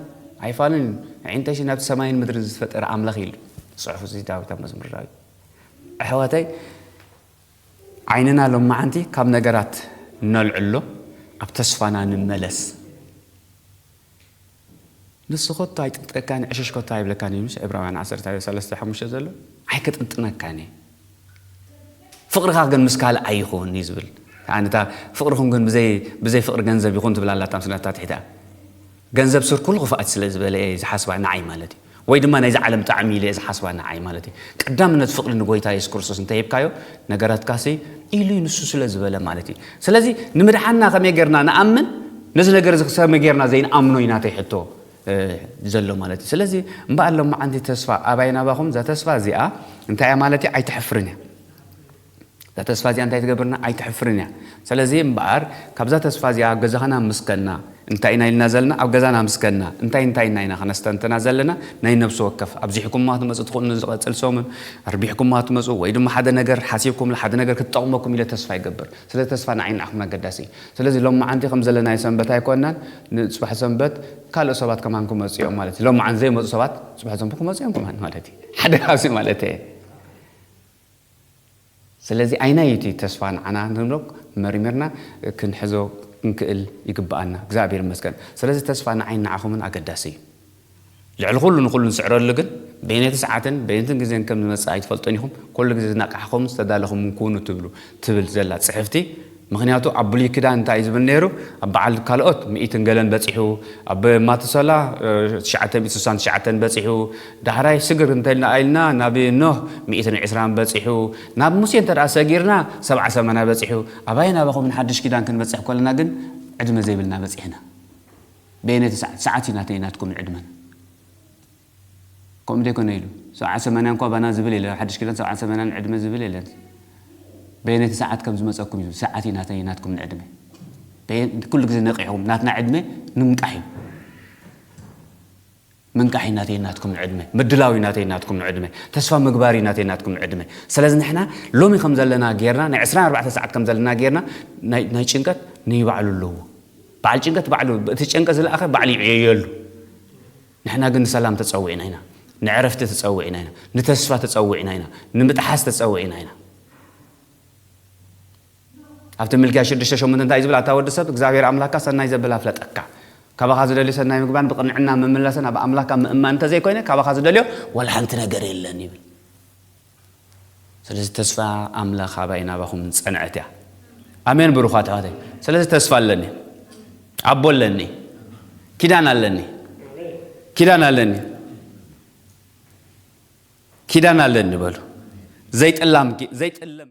ኣይፋሉን እዩ ዒንተይሲ ናብቲ ሰማይን ምድርን ዝፈጠረ ኣምላኽ ኢሉ ዝጽሑፍ እዚ ዳዊት ኣብ መዝሙር ዳዊት ኣሕዋተይ ዓይንና ሎማዓንቲ ካብ ነገራት ነልዕሎ ኣብ ተስፋና ንመለስ ንሱ ከቶ ኣይጥቅጠካን እዩ ዕሽሽ ከቶ ኣይብለካን እዩ ምስ ዕብራውያን ዓሰርተ ሰለስተ ሓሙሽተ ዘሎ ኣይክጥንጥነካን እዩ ፍቅርካ ግን ምስ ካልእ ኣይኹን እዩ ዝብል ከኣ ነታ ፍቅርኹም ግን ብዘይ ብዘይ ፍቅሪ ገንዘብ ይኹን ትብል ኣላ ታምስናታ ትሒታ ገንዘብ ስር ኩሉ ክፍኣት ስለ ዝበለ እየ ዝሓስባ ንዓይ ማለት እዩ ወይ ድማ ናይዛ ዓለም ጣዕሚ ኢለ'የ ዝሓስባ ንዓይ ማለተይ። ቀዳምነት ፍቕሪ ንጎይታ የሱስ ክርስቶስ እንተ ሂብካዮ ነገራትካሲ ኢሉ'ዩ ንሱ ስለ ዝበለ ማለት እዩ። ስለዚ ንምድሓንና ከመይ ጌርና ንኣምን ነዚ ነገር እዚ ከመይ ጌርና ዘይንኣምኖ እዩ ናተይ ሕቶ ዘሎ ማለት እዩ። ስለዚ እምበኣር ሎምዓንቲ ተስፋ ኣባይ ናባኹም እዛ ተስፋ እዚኣ እንታይ እያ ማለት እያ ኣይተሕፍርን እያ። እዛ ተስፋ እዚኣ እንታይ ትገብረና? ኣይተሕፍርን እያ። ሰለዚ እምበኣር ካብዛ ተስፋ እዚኣ ገዛኻን ኣምስከና እንታይ ኢና ኢልና ዘለና ኣብ ገዛና ኣምስከና እንታይ እንታይ እና ኢና ከነስተንትና ዘለና ናይ ነብሲ ወከፍ ኣብዚሕኩማ ትመጹ ትኽእሉ ንዝቐጽል ሰሙን ኣርቢሕኩማ ትመጹ ወይ ድማ ሓደ ነገር ሓሲብኩምላ ሓደ ነገር ክትጠቕመኩም ኢለ ተስፋ ይገብር ስለ ተስፋ ንዓይ ንዓኹም ኣገዳሲ እዩ ስለዚ ሎማዓንቲ ከም ዘለናዮ ሰንበት ኣይኮናን ንጽባሕ ሰንበት ካልእ ሰባት ከማን ክመጹ እዮም ማለት እዩ ሎማዓንቲ ዘይመጹ ሰባት ጽባሕ ሰንበት ክመጹ እዮም ከማን ማለት እዩ ሓደ ካብዚ ማለት እየ ስለዚ ኣይናይ እቲ ተስፋ ንዓና ንብሎ መሪሚርና ክንሕዞ ክንክእል ይግብኣና። እግዝኣብሄር ይመስገን ስለዚ ተስፋ ንዓይን ንዓኹምን ኣገዳሲ እዩ። ልዕሊ ኩሉ ንኹሉ ንስዕረሉ ግን በየነይቲ ሰዓትን በየንትን ግዜን ከም ዝመጽእ ኣይትፈልጡን ኢኹም ኩሉ ግዜ ዝነቓሕኹምን ዝተዳለኹምን ኩኑ ትብሉ ትብል ዘላ ጽሕፍቲ ምኽንያቱ ኣብ ብሉይ ኪዳን እንታይ እዩ ዝብል ነይሩ ኣብ በዓል ካልኦት ሚኢትን ገለን በጺሑ ኣብ ማቱሰላ ትሽዓተ ሚእቲ ስሳን ትሽዓተን በጺሑ ዳሕራይ ስግር እንተልና ኢልና ናብ ኖህ ሚኢትን ዕስራን በጺሑ ናብ ሙሴ እንተ ሰጊርና ሰብዓ ሰማንያ በጺሑ ኣባይን ኣባኹምን ንሓድሽ ኪዳን ክንበጽሕ ኮለና ግን ዕድመ ዘይብልና በጺሕና በየነይቲ ሰዓት ሰዓት እዩ ናተይን ናትኩምን ዕድመን ከምኡ እንተይኮነ ኢሉ ሰብዓን ሰማንያን እኳ ባና ዝብል የለን ኣብ ሓድሽ ኪዳን ሰብዓን ሰማንያን ዕድመ ዝብል የለን በየነይቲ ሰዓት ከም ዝመጸኩም እዩ ሰዓት እዩ ናተይ ናትኩም ንዕድመ በየን ኩሉ ግዜ ነቂሕኩም ናትና ዕድመ ንምንቃሕ እዩ ምንቃሒ ናተይ ናትኩም ንዕድመ ምድላው እዩ ናተይ ናትኩም ንዕድመ ተስፋ ምግባር እዩ ናተይ ናትኩም ንዕድመ ስለዚ ንሕና ሎሚ ከም ዘለና ጌርና ናይ 24 ሰዓት ከም ዘለና ጌርና ናይ ጭንቀት ንይባዕሉ ኣለዎ በዓል ጭንቀት ባዕሉ እቲ ጨንቀ ዝለኣኸ ባዕሉ ይዕየየሉ ንሕና ግን ንሰላም ተጸዊዕና ኢና፣ ንዕረፍቲ ተጸዊዕና ኢና፣ ንተስፋ ተጸዊዕና ኢና፣ ንምጥሓስ ተጸዊዕና ኢና። ኣብቲ ምልክያ ሽዱሽተ ሸሞንተ እንታይ እዩ ዝብል? ኣታ ወዲ ሰብ፣ እግዚኣብሄር ኣምላክካ ሰናይ ዘብል ኣፍለጠካ። ካባኻ ዝደልዮ ሰናይ ምግባርን ብቕንዕና ምምላስን ኣብ ኣምላክካ ምእማን እንተ ዘይኮይነ፣ ካባኻ ዝደልዮ ዋላ ሓንቲ ነገር የለን ይብል። ስለዚ ተስፋ ኣምላኽ ኣባይ ናባኹም ዝጸንዐት እያ። ኣሜን ብሩኻት ኣሕዋተይ። ስለዚ ተስፋ ኣለኒ፣ ኣቦ ኣለኒ፣ ኪዳን ኣለኒ፣ ኪዳን ኣለኒ፣ ኪዳን ኣለኒ በሉ ዘይጥላም ዘይጥለም